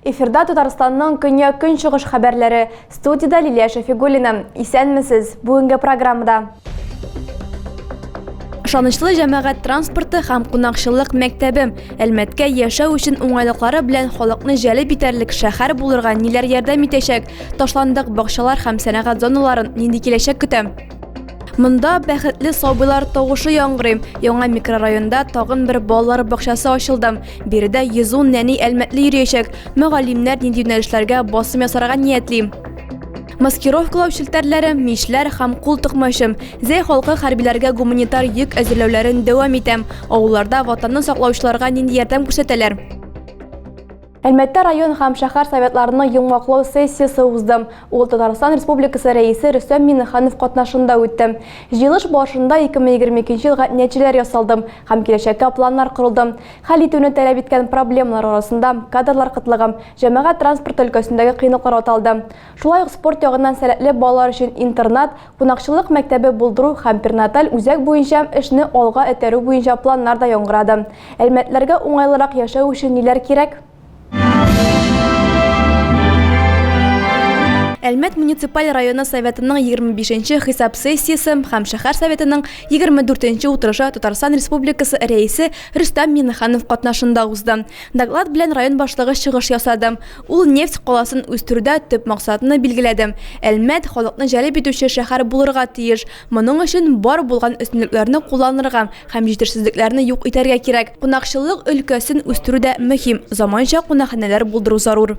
Эфирда Татарстанның көнья көнчыгыш хәбәрләре. Студияда Лилия Шәфигуллина. Исәнмесез. Бүгенге программада Ышанычлы җәмәгать транспорты һәм кунакчыллык мәктәбе Әлмәткә яшәү өчен уңайлыклары белән халыкны җәлеп итәрлек шәһәр булырга ниләр ярдәм итәчәк? Ташландык бакчалар һәм сәнәгать зоналарын нинди киләчәк көтә? Монда бәхетле сабыйлар тавышы яңгырый. Яңа микрорайонда тагын бер балалар бакчасы ачылды. Биредә 110 нәни әлмәтле йөриячәк. Мөгаллимнәр нинди юнәлешләргә басым ясарга ниятли? маскировкалау челтәрләре, мичләр һәм кул токмачы. Зәй халкы хәрбиләргә гуманитар йөк әзерләүләрен дәвам итә. Авылларда ватанны саклаучыларга нинди ярдәм күрсәтәләр? Әлмәттә район һәм шәһәр советларының йомгаклау сессиясе узды. Ул Татарстан Республикасы рәисе Рөстәм Миннеханов катнашында үтте. Җыелыш барышында 2022 елга нәтиҗәләр ясалды һәм киләчәккә планнар корылды. Хәл итүне таләп иткән проблемалар арасында кадрлар кытлыгы, Җәмәгать транспорты өлкәсендәге кыенлыклар аталды. Шулай ук спорт ягыннан сәләтле балалар өчен интернат, кунакчыллык мәктәбе булдыру һәм перинаталь үзәк буенча эшне алга этәрү буенча планнар да яңгырады. Әлмәтлеләргә уңайлырак яшәү өчен ниләр кирәк? Әлмәт муниципаль районы Советының егерме бишенче хисап сессиясе һәм шәһәр Советының егерме дүртенче утырышы Татарстан Республикасы Рәисе Рөстәм Миңнеханов катнашында узды. Доклад белән район башлыгы чыгыш ясады. Ул нефть каласын үстерүдә төп максатны билгеләде, Әлмәт, халыкны җәлеп итүче шәһәр булырга тиеш. Моның өчен бар булган өстенлекләрне кулланырга һәм җитешсезлекләрне юк итәргә кирәк. Кунакчыллык өлкәсен үстерү дә мөһим, заманча кунакханәләр булдыру зарур.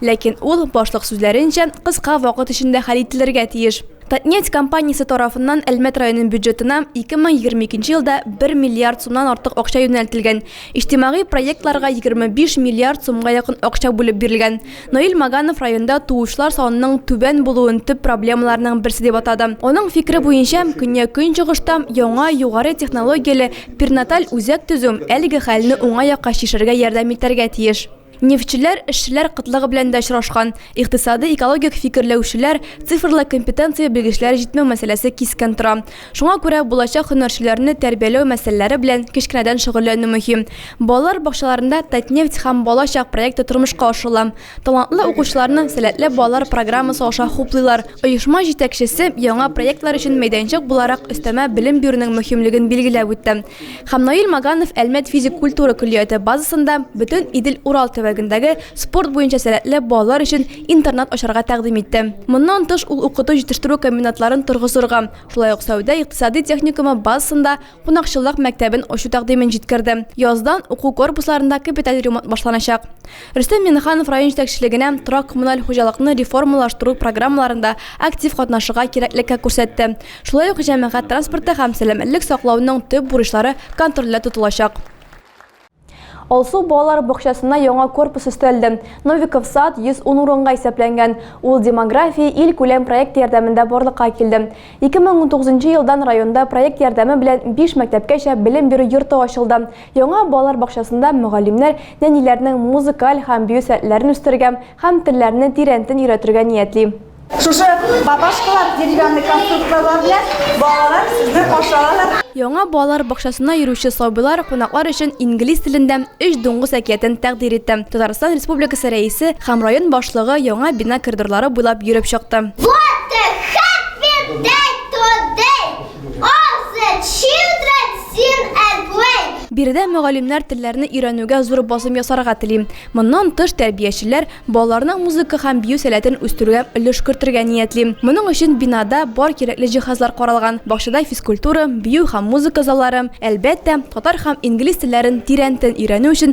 Ләкин ул, башлык сүзләренчә, кыска вакыт эчендә хәл ителергә тиеш. Татнефть компаниясе тарафыннан Әлмәт районы бюджетына 2022 елда бер миллиард сумнан артык акча юнәлтелгән, иҗтимагый проектларга 25 миллиард сумга якын акча бүлеп бирелгән. Наил Маганов районда туучылар санының түбән булуын төп проблемаларның берсе дип атады. Аның фикере буенча, көньяк-көнчыгышта яңа, югары технологияле перинаталь үзәк төзү әлеге хәлне уңай якка чишәргә ярдәм итәргә тиеш. Нефтьчеләр, эшчеләр кытлыгы белән дә очрашкан. Икътисадый, экологик фикерләүчеләр, цифрлы компетенция белгечләре җитмәү мәсьәләсе кискен тора. Шуңа күрә булачак һөнәрчеләрне тәрбияләү мәсьәләләре белән кечкенәдән шөгыльләнү мөһим. Балалар бакчаларында Татнефть һәм Бала чак проекты тормышка ашырыла. Талантлы укучыларны Сәләтле балалар программасы аша хуплыйлар. Оешма җитәкчесе яңа проектлар өчен мәйданчык буларак өстәмә белем бирүнең мөһимлеген билгеләп үтте. Һәм Наил Маганов Әлмәт физик культура көллияте базасында бөтен Идел-Урал төбәгендәге спорт буенча сәләтле балалар өчен интернат ачарга тәкъдим итте. Моннан тыш ул укыту-җитештерү комбинатларын торгызырга, шулай ук сәүдә-икътисади техникумы базасында кунакчыллык мәктәбен ачу тәкъдимен җиткерде. Яздан уку корпусларында капиталь ремонт башланачак. Рөстәм Миңнеханов район җитәкчелегенә торак-коммуналь хуҗалыкны реформалаштыру программаларында актив катнашырга кирәклеккә күрсәтте. Шулай ук җәмәгать транспорты һәм сәламәтлек саклауның төп бурычлары контрольдә тотылачак. Алсу балалар бакчасына яңа корпус өстәлде. Новиков сад 110 урынга исәпләнгән. Ул Демография илкүләм проекты ярдәмендә барлыкка килде. 2019 елдан районда проект ярдәме белән биш мәктәпкәчә белем бирү йорты ачылды. Яңа балалар бакчасында мөгаллимнәр нәниләрнең музыкаль һәм бию сәләтләрен үстерергә һәм телләрне тирәнтен өйрәтергә ниятли. Шушы бабашкалар, деревянный конструкторлар белән балалар сезне каршы алалар. Яңа балалар бакчасына йөрүче сабыйлар кунаклар өчен инглиз телендә Өч дуңгыз әкиятен тәкъдир итте. Татарстан Республикасы Рәисе һәм район башлыгы яңа бина коридорлары буйлап йөреп чыкты. Биредә мөгаллимнәр телләрне өйрәнүгә зур басым ясарга тели. Моннан тыш, тәрбиячеләр балаларның музыка һәм бию сәләтен үстерүгә өлеш кертергә ниятли. Моның өчен бинада бар кирәкле җиһазлар каралган, бакчада физкультура, бию һәм музыка заллары, әлбәттә, татар һәм инглиз телләрен тирәнтен өйрәнү өчен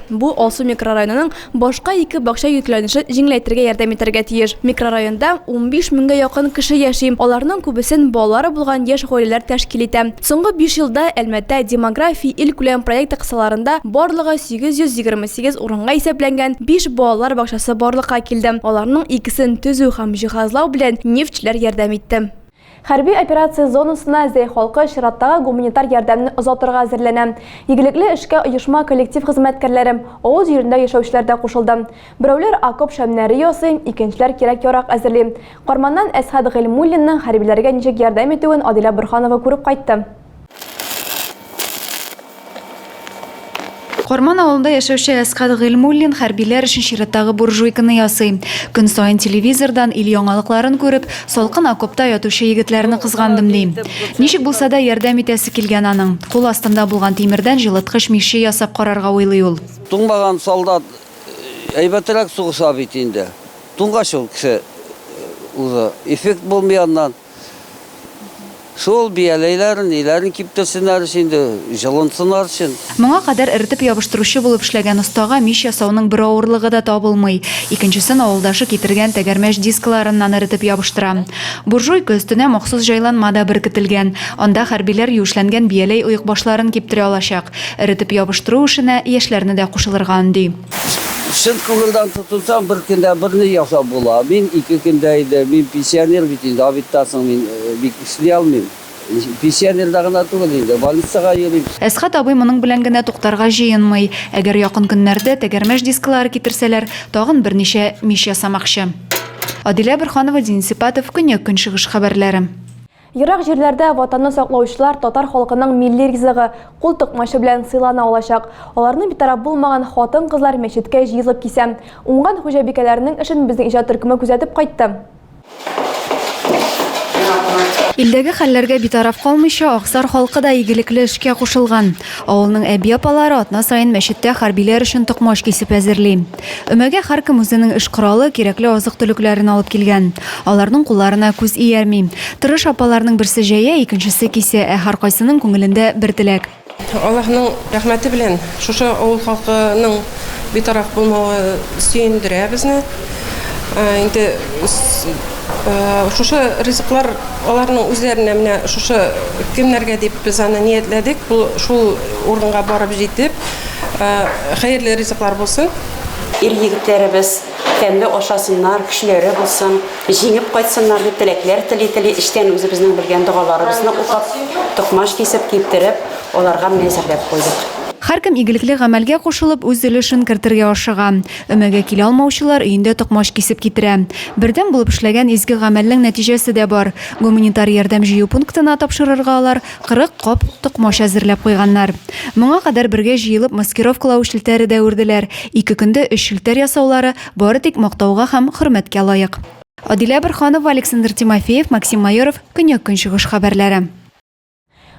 Бу Алсу микрорайонының башка ике бакча йөкләнешен җиңеләйтергә ярдәм итәргә тиеш. Микрорайонда унбиш меңгә якын кеше яши, аларның күбесен балалары булган яшь гаиләләр тәшкил итә. Соңгы биш елда Әлмәттә демография илкүләм проекты кысаларында барлыгы 828 урынга исәпләнгән биш балалар бакчасы барлыкка килде, аларның икесен төзү һәм җиһазлау белән нефтьчеләр ярдәм итте. Хәрби операция зонасына Зәй халкы чираттагы гуманитар ярдәмне озатырга әзерләнә. Игелекле эшкә оешма коллектив хезмәткәрләре, авыл җирендә яшәүчеләр дә кушылды. Берәүләр окоп шәмнәре ясый, икенчеләр кирәк-ярак әзерли. Карманнан Әсхәт Гыйльмуллинның хәрбиләргә ничек ярдәм итүен Адилә Борһанова күреп кайтты. Карман авылында яшәүче Әсхәт Гыйльмуллин хәрбиләр өчен чираттагы буржуйканы ясый. Көн саен телевизордан ил яңалыкларын күреп, салкын окопта ятучы егетләрне кызгандым, ди. Ничек булса да ярдәм итәсе килгән аның. Кул астында булган тимердән җылыткыч миче ясап карарга уйлый ул. Туңмаган солдат әйбәтрәк сугыша бит инде. Туңгач ул кеше уже эффект булмый аннан. Шул бияләйләрен, ниләрен киптерсеннәр өчен инде, җылынсыннар өчен. Моңа кадәр эретеп ябыштыручы булып эшләгән остага мич ясауның бер авырлыгы да табылмый. Икенчесен авылдашы китергән тәгәрмәч дискларыннан эретеп ябыштыра. Буржуйка өстенә махсус җайланма да беркетелгән. Анда хәрбиләр юешләнгән бияләй оекбашларын киптерә алачак. Эретеп ябыштыру эшенә яшьләрне дә кушылырга өнди. Чын күңелдән тотынсаң, бер көндә берни ясап була. Мин ике көндә иде, мин пенсионер бит инде, авитта соң мин э, бик эшли алмыйм. Пенсионерда гына түгел инде, больницага йөрим. Әсхат абый моның белән генә туктарга җыенмый. Әгәр якын көннәрдә тәгәрмәч дискылары китерсәләр, тагын берничә мич ясамакчы. Адилә Борханова, Дин Сипатов, Көньяк-Көнчыгыш хәбәрләре. Ерак җирләрдә Ватанны саклаучылар татар халкының милли ризыгы, кул токмачы белән сыйлана алачак. Аларны битараф булмаган хатын-кызлар мәчеткә җыелып кисә. Уңган хуҗабикәләрнең эшен безнең иҗат төркеме күзәтеп кайтты. Илдәге хәлләргә битараф калмыйча, Аксар халкы да игелекле эшкә кушылган. Авылның әби-апалары атна саен мәчеттә хәрбиләр өчен токмач кисеп әзерли. Өмәгә һәркем үзенең эш коралы, кирәкле азык-төлекләрен алып килгән. Аларның кулларына күз иярми. Тырыш апаларның берсе җәя, икенчесе кисә, ә һәркайсының күңелендә бер теләк. Аллаһның рәхмәте белән, шушы авыл халкының битараф булмавы сөендерә безне. Инде шушы ризыклар аларның үзләренә менә шушы көннәргә дип без аны ниятләдек. Бу шул урынга барып җитеп, Хәерле ризыклар булсын. Ир-егетләребез тәмле ашасыннар, көчләре булсын, җиңеп кайтсыннар дип теләкләр тели-тели, эчтән үзебезнең белгән догаларыбызны укып, токмач кисеп, киптереп, аларга менә әзерләп куйдык. Һәркем игелекле гамәлгә кушылып, үз өлешен кертергә ашыга. Өмәгә килә алмаучылар өендә токмач кисеп китерә. Бердәм булып эшләгән изге гамәлнең нәтиҗәсе дә бар. Гуманитар ярдәм җыю пунктына тапшырырга алар, Кырык кап токмач әзерләп куйганнар. Моңа кадәр бергә җыелып маскировкалау челтәре дә үрделәр. Ике көндә өч челтәр ясаулары, бары тик мактауга һәм хөрмәткә лаек. Адилә Борһанова, Александр Тимофеев, Максим Майоров, Көньяк-Көнчыгыш хәбәрләре.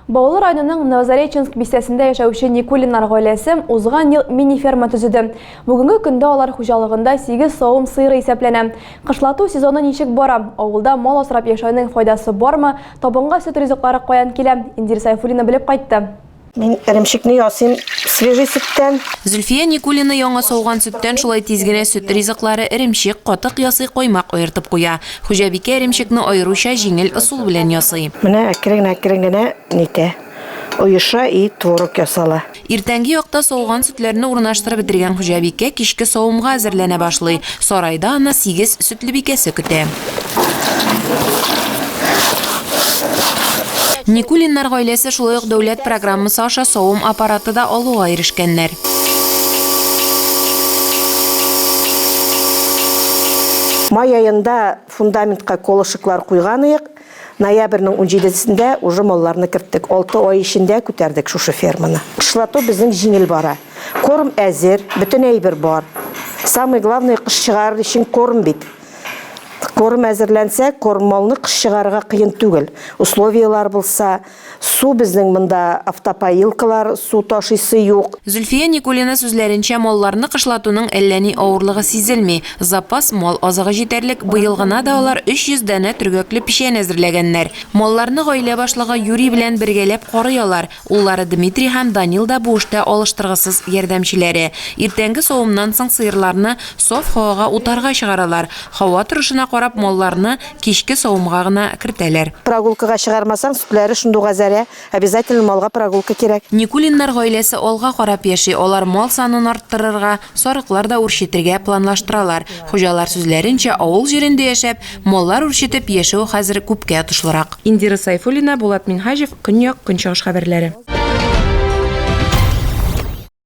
Баулы районының Новозареченск бистәсендә яшәүче Никулиннар гаиләсе узган ел мини-ферма төзеде. Бүгенге көндә алар хуҗалыгында сигез савым сыеры исәпләнә. Кышлату сезоны ничек бара, авылда мал асрап яшәүнең файдасы бармы, Табынга сөт ризыклары каян килә? Индир Сайфуллина белеп кайтты. Мин эремчекне ясыйм свежий сөттән. Зөлфия Никулина яңа сауган сөттән шулай тиз генә сөт ризыклары, эремчек, катык ясый, коймак аертып куя. Хуҗабикә эремчекне аеруча җиңел ысул белән ясый. Менә әкрен-әкрен генә нитә, оеша и творог ясала. Иртәнге якта сауган сөтләрне урнаштырып бетергән хуҗабикә кичке савымга әзерләнә башлый. Сарайда аны сигез сөтлебикәсе көтә. Никулиннар гаиләсе шулай ук дәүләт программасы аша савым аппараты да алуга ирешкәннәр. Май аенда фундаментка колышеклар куйган идек. Ноябрьнең унҗидесендә уже малларны керттек. Алты ай эчендә күтәрдек шушы ферманы. Кышлату безнең җиңел бара. Корм әзер, бөтен әйбер бар. Самое главное, кыш чыгарыр өчен корм бит. Корм әзерләнсә, корм малны кыш чыгарырга кыен түгел. Условияләр булса, Су безнең монда автопоилкалар, су ташыйсы юк. Зөлфия Никулина сүзләренчә, малларны кышлатуның әллә ни авырлыгы сизелми. Запас мал азыгы җитәрлек, быел гына да алар 300 данә төргәкле печән әзерләгәннәр. Малларны гаилә башлыгы Юрий белән бергәләп карый алар, уллары Дмитрий һәм Данил да бу эштә алыштыргысыз ярдәмчеләре. Иртәнге савымнан соң сыерларны саф һавага утарга чыгаралар, һава торышына карап малларны Кичке савымга гына кертәләр. Прогулкага чыгармасаң, сөтләре шундуга зәрә, обязательно малга прогулка кирәк. Никулиннар гаиләсе алга карап яши, алар мал санын арттырырга, сарыклар да үрчетергә планлаштыралар. Хуҗалар сүзләренчә, авыл җирендә яшәп, маллар үрчетеп яшәү хәзер күпкә отышлырак. Индира Сайфуллина, Булат Минһаҗев, Көньяк, Көнчыгыш хәбәрләре.